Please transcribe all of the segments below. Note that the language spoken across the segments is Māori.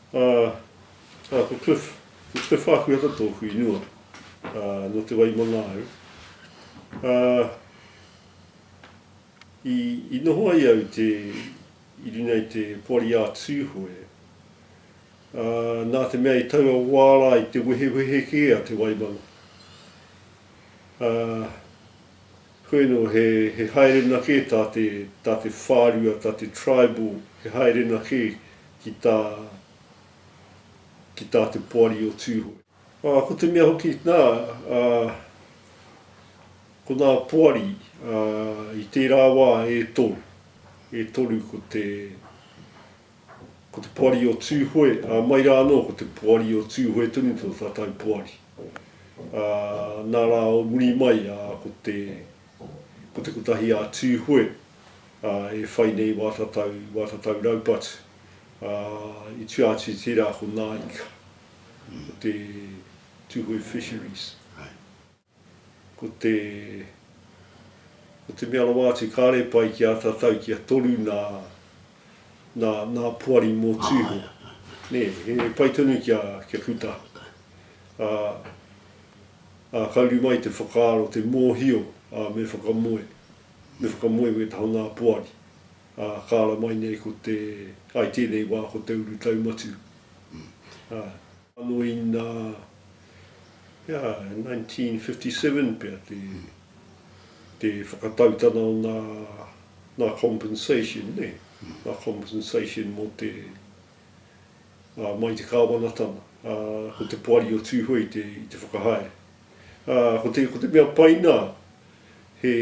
Ā, ā, ko Cliff, ko Cliff Ākuhata tōku inua, ā, nō Te Waimangāu. Ā, i, i noho ai au te, i runga i te Poari ā Tūhoe, ā, nā te mea i taua wā rā i te wehewehe kē a Te Waimanga. Ā. Hueno, he haerena kē tā te, tā te whārua, tā te tribal, he haerena kē ki tā, ki tā te poari o Tūhoe. Ā, ko te mea hoki, nā, ā, ko ngā poari, ā, i tērā wā e toru, e toru ko te, Ko te poari o Tūhoe, ā, mai rā anō ko te poari o Tūhoe tonu tō tātou poari. Ā, nā rā o muri mai, ā, ko te, ko te kotahi a Tūhoe, ā, e whai nei wā tatau, wā tatau raupatu, ā, i tua atu i tērā ko Nāika, ko te Tūhoe Fisheries. Ko te Ko te mea rawa atu kāre pai ki a tatau kia toru nā nā nā poari mō Tūhoe. Nē, he pai tonu kia kia puta. Ā ā ka uru mai te whakaaro te mōhio ā me whakamoe me whakamoe me taha nā poari. Ā ka ara mai nei ko te ai tēnei wā ko te urutau matu. Ā. Anō inā. Ia, i 1957 pea te, te whakatautana o nā, nā compensation, nē, nā compensation mō te, ā, mai te Kāwanatanga, ā, ko te Poari o Tūhoe i te, i te whakahaere. Ā, ko te, ko te mea pai nā, he,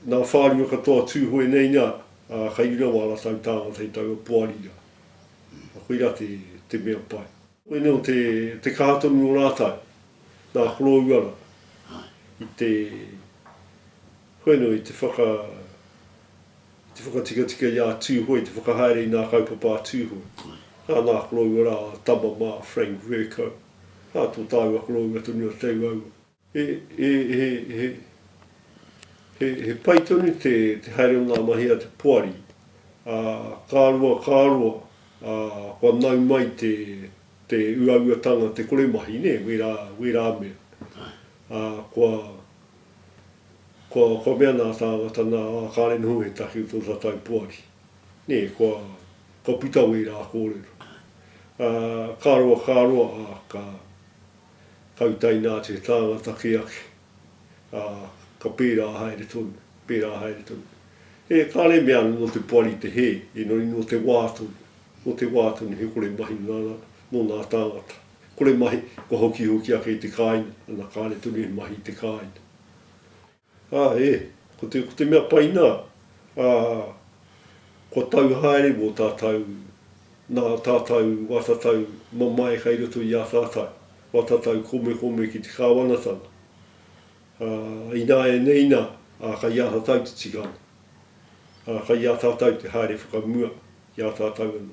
nā whārua katoa Tūhoe nei nā, ā, kai runga wā rātau tāngata i taua Poari rā. Koirā te, te mea pai. Koinei o te, te kaha tonu o rātau, nā Korouara, i te, koinei i te whaka, i te whakatikatika i a Tūhoe, i te whakahaere i nā kaupapa a Tūhoe. Ā, nā Korouara a tama mā, Frank Vercoe. Ā, tō tāua koroua tonu a Te Tauaua. He, he, he, he, he, he pai tonu te, te haere o ngā mahi a te poari, ā, ka roa, ka roa, ā, kua nau mai te, te uauatanga, te kore mahi, nē, wērā, wērā mea. Ā, kua, kua, kua mea nā tāngata, nā, ā, kāre noho ētahi o tō tātou poari. Nē, kua, kua puta wērā kōrero. Ā, ka roa, ka roa, ā, ka, Kautaina te tāngata ki ake, ā, ka pērā haere tonu, pērā haere tonu. E kāre mea ana nō te poari te hē, engari nō te wā tonu, nō te wā tonu he kore mahi nana mō ngā tāngata. Kore mahi, kua hokihoki ake i te kāinga, ana kāre tonu he mahi i te kāinga. Ā, ē, ko te, ko te mea pai nā, ā, kua tau haere mō tātou, nā tātou watatau mamae kai roto i ā tātou, watatau komekome ki te Kāwanatanga. Ā, ināianei nā, ā, kai ā tātou te tikanga. Ā, kai ā tātou te haere whakamua i ā tātou anō.